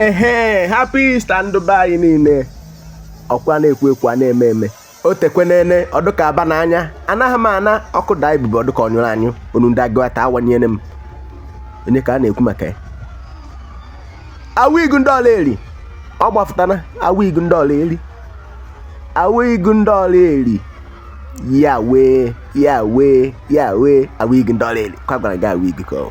ehe happy Easter ndụ be anyị niile ọkwa na-ekwu ekwu a na-eme eme o tekwenene ọ dụka aba n'anya anaghị m ana ọkụ daa ibube ọ dụka ọ nyụrụ anyụ onu ndị agụata awanyere m onye ka a na-ekwu maka ya Awigu ndị Oraeri ọ gbafụtana Awigu ndị Oraeri Awigu ndị Oraeri ya wee ya wee ya wee Awigu ndị Oraeri kwa gwara gị Awigu ka ọ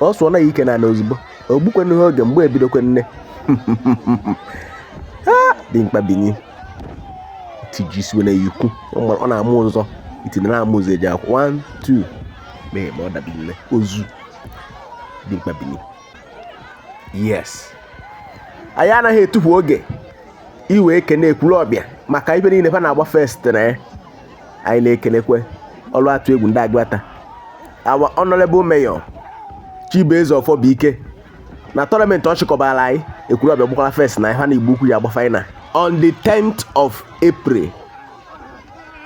ọ sụọ na ya ike na ozugbo ogbukwenụ ha oge mgba ebidokwene dimkpa bini tijisiwe na ikwu ọ na-amụ ụzọ itinye na-amụ ụzọ eji akwụ 1 2 mee ma ọ dabi nne ozu dimkpa bini yes anyị anaghị etufu oge iwe ekene Ekwulobia maka ibe niile fa na-agba first na ya anyị na-ekenekwe ọrụ atụ egwu ndị agụata our honorable mayor chibueze ọfọbụike na tournament ọ chịkọbara anyị Ekwulobia gbakwara first na ha na igbo ukwu ya agba final on the 10th of april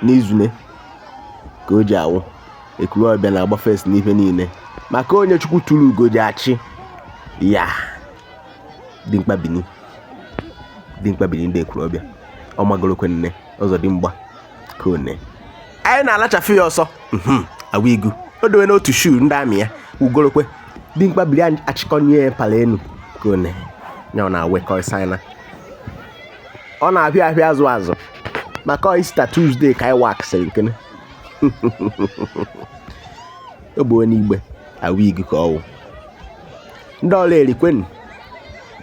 n'izune ka o ji awụ Ekwulobia na-agba first n'ife niile maka onye chukwu tụrụ ugo ji achị ya dimkpa bini dimkpa bini ndị Ekwulobia ọ magorokwene Ọzọdimgba Kone anyị na-alachafe ya ọsọ mhm, Awigu o dowe n'otu shu ndị amị ya ugorokwe dimkpa bini anyị achịkọnye ya pala enu Kone ya ọ na-awekọrịsa anyị na ọ na-ahịa ahịa azụ azụ maka Easter Tuesday ka anyị waksịrị nkene o bụ onye igbe Awigu ka ọ wụ ndị Oraeri kwenu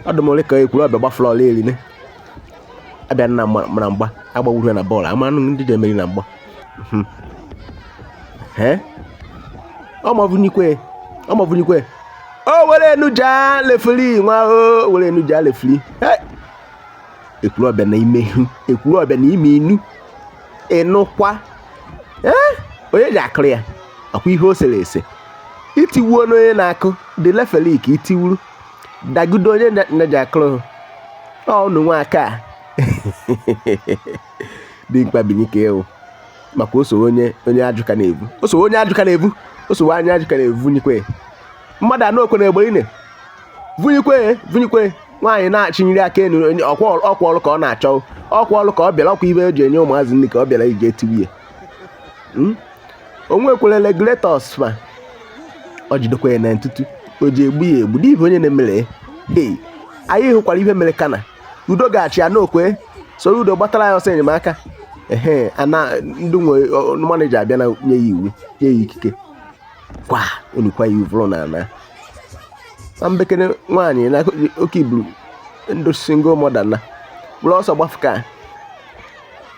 ọdụmole ka Ekwulobia gbafụrụ Oraeri ne abịa na mara mgba agbawuru ya na bọọlụ a manụ ndị ji emeri na mgba hmm. ọmọbụnikwe ọmọbụnikwe o were enuja referee nwa o were enuja referee Ekwulobia na ime ihu Ekwulobia na ime inu ịnụkwa onye ji akụrụ ya akwa ihe o sere ese itiwuo n'onye na-akụ dị referee ka itiwuru dagudo onye na-eji akụrụ ọ unu nwa aka dimkpa binike ewu maka o sowe onye onye ajụ ka na-ebu o sowe onye ajụ ka na-ebu o sowe anya ajụ ka na-ebu vunyikwe mmadụ anọ okwe na-egbe ine vunyikwe vunyikwe nwaanyị na-achịnyere aka enu ọkwa ọrụ ka ọ na-achọ ọkwa ọrụ ka ọ bịara ọkwa ibe eji enye ụmụazị nri ka ọ bịara ije tiwie hmm? onwe kwere regulators ma ọ jidekwa ya na ntutu o ji egbu ya egbu n'ihi onye na-emere hey anyị hụkwara ihe mere kana udo ga-achị ya n'okwe soro udo gbatara ya ọsọ enyemaka ehe ana ndị nwe maneja abịa na nye ya iwu nye ya ikike kwa onukwa ya uvụrụ na ana na mbekere nwaanyị na oke iburu ndụ single mother na bụrụ ọsọ gbafuka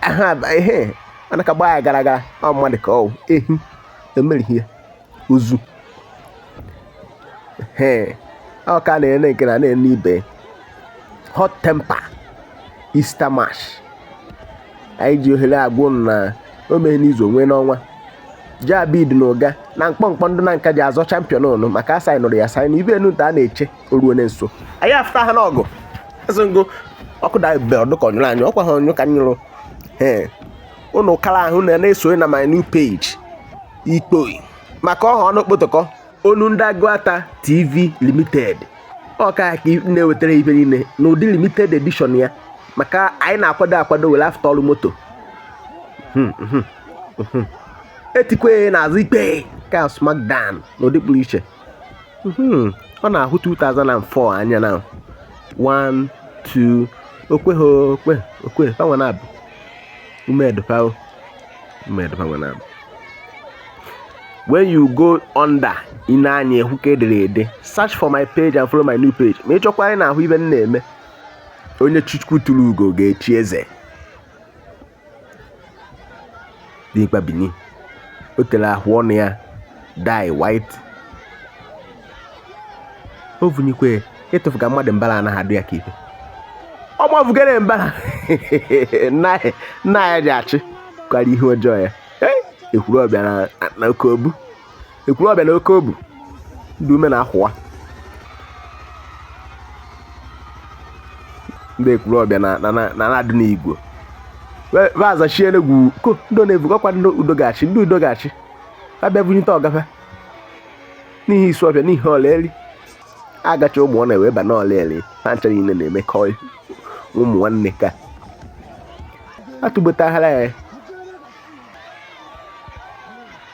ha ihe a na-aka gbaa ya gara gara ọ mmadụ ka ọwụ ehi emerighị ya ozu ee ọ ka na-ene nke na na-ene ibe hot temper Easter match anyị ji ohere agwụ na o mee n'izu onwe n'ọnwa jabid na Uga na mkpọmkpọ ndụ na nka ji azọ champion ụnụ maka asaị nụrụ ya saị na ibe enu a na-eche o ruo na nso anyị afụta ha n'ọgụ asị ngụ ọkụ da be ọ dụ ka ọ nyụrụ anyị ọkwa ha onyụ ka nyụrụ ee ụnụ kara ahụ na na-esonye na my new page ikpoi maka ọha ọnụ kpotokọ onu ndị Aguata TV Limited ọ ka na-ewetara ibe niile n'ụdị limited edition ya maka anyị na-akwado akwado were afụta ọrụ moto hmm, hmm, hmm, etikwe n'azụ ikpe ka smackdown n'ụdị pụrụ iche hmm, ọ na-ahụ 2004 anya na 1 2 okwe ha okwe okwe fanwe na-abụ umedopa umedopa nwe na-abụ when you go under ị nee anya hụ ka e dere ede search for my page and follow my new page ma ị chọkwa anyị na-ahụ ibe m na-eme onye Chukwu tụrụ ugo ga-echi eze dimkpa bini o tere ahụ ọnụ ya dye white o vunyikwe ịtụfuga mmadụ mbara anaghị adụ ya ka ife ọ gbafugara mbara nna ya ji achị kwara ihe ọjọọ ya Ekwulobia na oke obu Ekwulobia na oke obu ndị ume na-akwụwa ndị Ekwulobia na na na na-adị n'igwe vazachie n'egwu ko ndị na-evu gakwa ndị udo ga-achị ndị udo ga-achị abịa bunyite ọgafe n'ihi Isuofia n'ihi Oraeri agacha ụmụ ọ na-ewe ba n'Oraeri ha ncha niile na-emekọ ụmụ nwanne ka atụgbotahara ya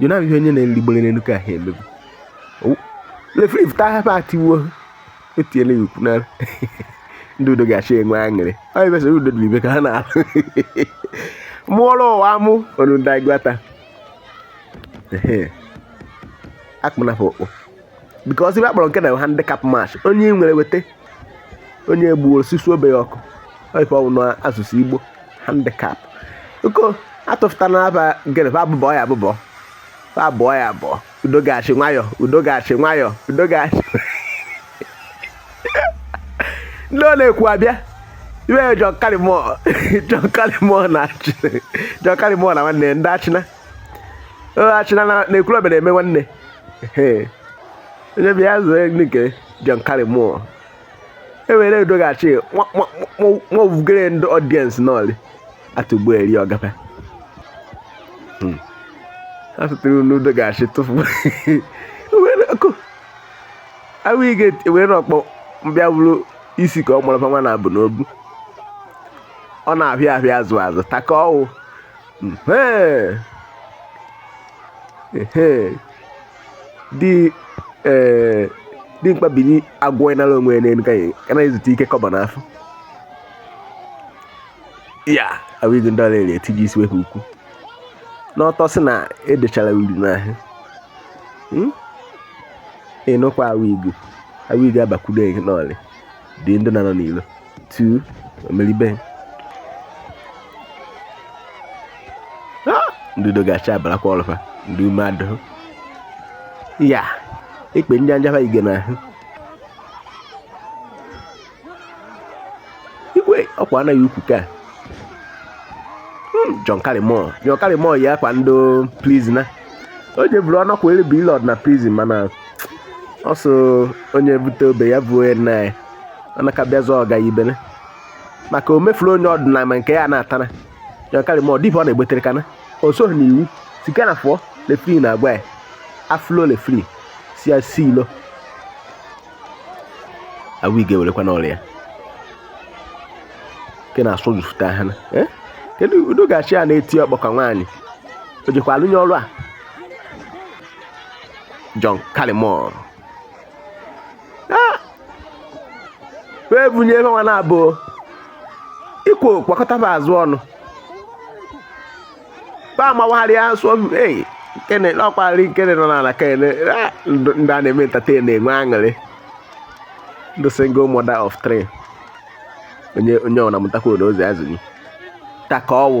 jona ihe onye na-erigbere n'elu ka ha emebu referee pụta hapụ atiwo etiela ya ukwu n'ala ndị udo ga-achị enwe aṅụrị ọ ebesara udo dị ibe ka ha na-alụ mụọrọ ụwa mụ ọnụ ndị Aguata akpụnafọ okpo because ibe akpọrọ nke na handicap match onye nwere weta onye egbuo osisi obe ya ọkụ ife ọwụ n'asụsụ igbo handicap uko atụfụta na aba gịnị fa abụbọ ya abụbọ fa abụọ ya abụọ udo gachi nwayọ udo gachi nwayọ udo gachi ndị ọ na Ekwulobia ibe ya John Karimọ John Karimọ na achị John Karimọ na nwanne ndị Achịna Achịna na Ekwulobia na-eme nwanne onye bịa zụọ nke John Karimọ ewere udo ga-achị mọbụgere ndị audience n'ọlị atụgbu eri ọgafe hmm. asụtụrụ n'udo ga-achị tụfu ewere ọkụ awụigu ewere ọkpọ bịa bụrụ isi ka ọ gbara nwa na abụ n'obu ọ na-ahịa ahịa azụ azụ taka ọwụ hmm. di ee dimkpa bini agwọ ịnara onwe ya n'elu ka ya ka na ezute ike kọba n'afọ ya awụghị ndị Ọraeri etiji isi wepụ ukwu n'ọtọ sị na edechara uri n'ahụ ịnụkwa awụigu awụigu abakwudo gị n'ọlị dị ndị na-anọ n'ilo tu omeribe ndị udo ga-achị abalakwa ọlụ fa ndị ume adụ ya ikpe ndị anjafa ige na ahụ igwe ọkwa anaghị ukwu ka hmm, John Karimọ John Karimọ yi akwa ndị prisoner o jeburu ọnọkwa elu bụ ile ọdịna prison mana ọ so onye bute obe ya bụ onye nna ya ọ na ka bịa zụọ ọga ibene maka o mefuru onye ọdịnala ma nke ya na-atana John Karimọ ọ dịbụ ọ na-egbetere kana o soghị n'iwu sika na fụọ referee na agwa ya aflo referee si ya si ilo awụigu werekwa n'ọrịa ya nke na-asụ jufụta ha na eh? kedu udo ga-achị ya na-eti ọkpọ ka nwaanyị o jekwa alụnye ọrụ a John Karimọ wee bunye ebe nwa na-abụ ikwo kwakọtaba azụ ọnụ ba amawagharịa asụ ei kene ọkwarị kene nọ n'ala kene ndị a na-eme entertain na-enwe aṅụrị ndị single mother of three onye onye ọ na-amụtakwa odo ozi azụ gị taka ọwụ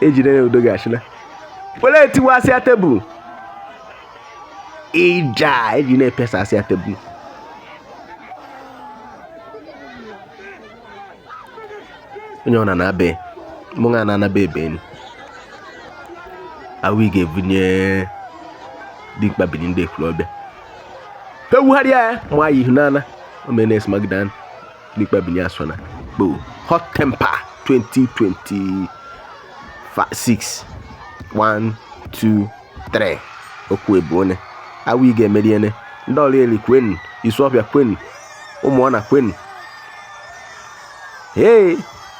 ejide ya udo ga-achịla were etiwasịa tebụl ịja eji na-epesasịa tebụl onye ọ na na-abe mụ na na-anaba ebe enyi Awigu ebunye Dikpa Bini ndị Ekwulobia ewugharịa ya ma ya ihu n'ala o meene smackdown Dikpa Bini asọ na bụ hot temper 2026 1 2 3 okwu ebu one Awigu emeriene ndị Ora-eri kwenu Isuọfịa kwenu Ụmụọna kwenu hey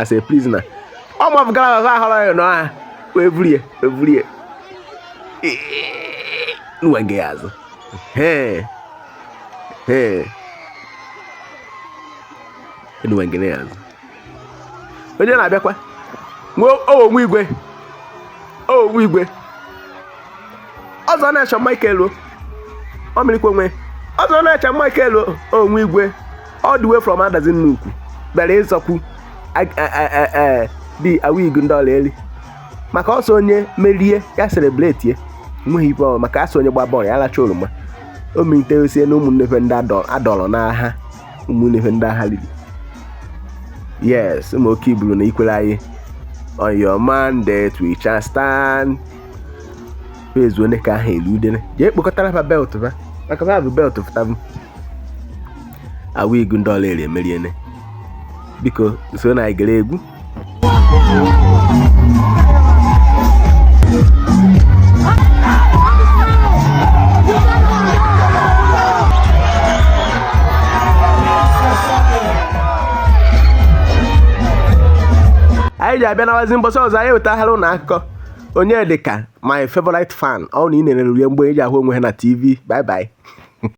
as a prisoner ọ mafụgara ahụ ahụrụ ya n'ọha wee buru ya wee buru ya nwa gị azụ nwa gị azụ onye na-abịakwa nwe owo igwe owo igwe ọzọ na-eche Michael o ọ mịrịkwa onwe ọzọ na-eche Michael o onwe igwe all the way from Adazi Nnukwu bịara ịzọkwu di Awigu ndị Ora-eri maka ọsọ onye merie ya celebrate ya nweghị ibe ọ maka a sị onye gbaa bọọlụ ya lacha oroma o melite osie na ụmụnnefe ndị adọ- adọrọ n'agha ụmụnnefe ndị agha lili yes ụmụ oke iburu na ikwere anyị on your mandate we shall stand pezu onye ka ahụ elu udene jee kpokọtara fa belt fa maka fa bụ belt fụtabụ Awigu ndị Ora-eri emeriene biko so na anyị gere egwu anyị ji abịa nawazi mbọsị ọzọ anyị wetahara ụnụ akụkọ Onyedika my favorite fan, ọ na ị na-elere rie mgbe eji ahụ onwe ha na TV. Bye bye.